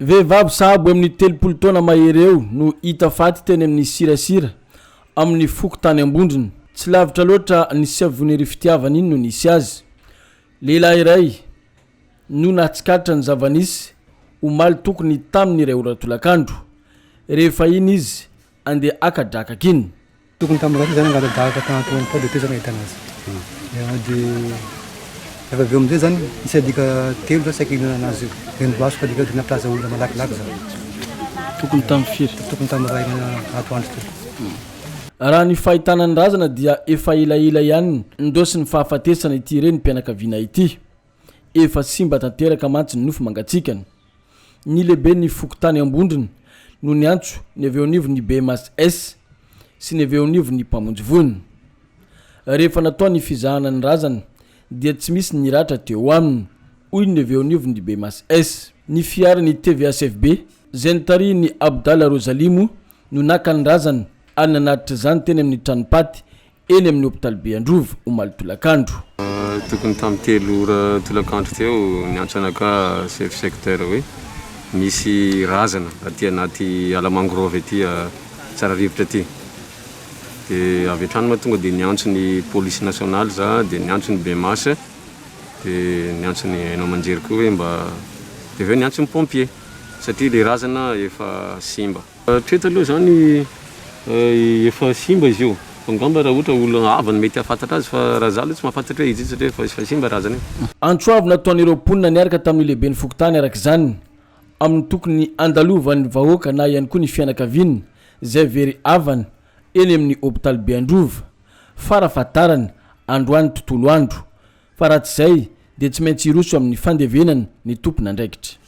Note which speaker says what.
Speaker 1: Vehivavy sahabo amin'ny telopolo taona mahery eo no hita faty teny amin'ny Sirasira, amin'ny fokontany Ambondrona. Tsy lavitra loatra ny Siavonirifitiavana iny no nisy azy. Lehilahy iray no nahatsikaritra ny zava-nisy, omaly tokony tamin'ny iray ora tolakandro. Rehefa iny izy andeha haka drakaka iny, Tokony tamin'ny andro izany
Speaker 2: nangatadahaka tany Antananarivo tao dia teo izany nahitana azy. Dia rehefa avy eo amin'izay izany nisy alika telo izany saika hihinana azy io. Dia nolaso fa alika tena mpilaza olona malakilaky izany. Tokony
Speaker 1: tamin'ny firy? Tokony tamin'ny iray
Speaker 2: ato andro teo. Raha
Speaker 1: ny fahitana ny razana dia efa elaela ihany ndosin'ny fahafatesana ity renim-pianakaviana ity. Efa simba tanteraka mantsy ny nofo mangatsiakany. Ny lehiben'ny fokontany Ambondrona no niantso ny avy eo anivon'ny BMHS sy ny avy eo anivon'ny mpamonjy voina. Rehefa natao ny fizahana ny razana dia tsy misy ny ratra teo aminy, hoy ny avy eo anivon'ny BMHS. Ny fiaran'ny TVHFB, izay notarihin'i Abdallah Rozalimo no naka ny razana ary nanatitra izany teny amin'ny tranom-paty eny amin'ny hopitalibe Androvo, omaly tolakandro. Tokony
Speaker 3: tamin'ny telo ora tolakandro teo, niantso anakahy chef secteur hoe misy razana aty anaty ala mangrove aty tsara rivotra aty. Dia avy hatrany moa tonga dia niantso ny police nationale za, dia niantso ny BMAS, dia niantso ny haino aman-jery koa hoe mba, dia avy eo niantso ny pompiers satria ilay razana efa simba. Hatreto aloha izany efa simba izy io fa angamba raha ohatra olona hafa no mety hahafantatra azy fa raha izaho aloha tsy mahafantatra hoe izy io satria efa simba razana io. Antso avo nataon'ireo
Speaker 1: mponina niaraka tamin'ny lehiben'ny fokontany araka izany amin'ny tokony handalovan'ny vahoaka na ihany koa ny fianakaviana izay very havana eny amin'ny hopitaly Beandrova fara fahatarany androany tontolo andro fa raha tsy izay dia tsy maintsy hiroso amin'ny fandevenana ny tompon'andraikitra.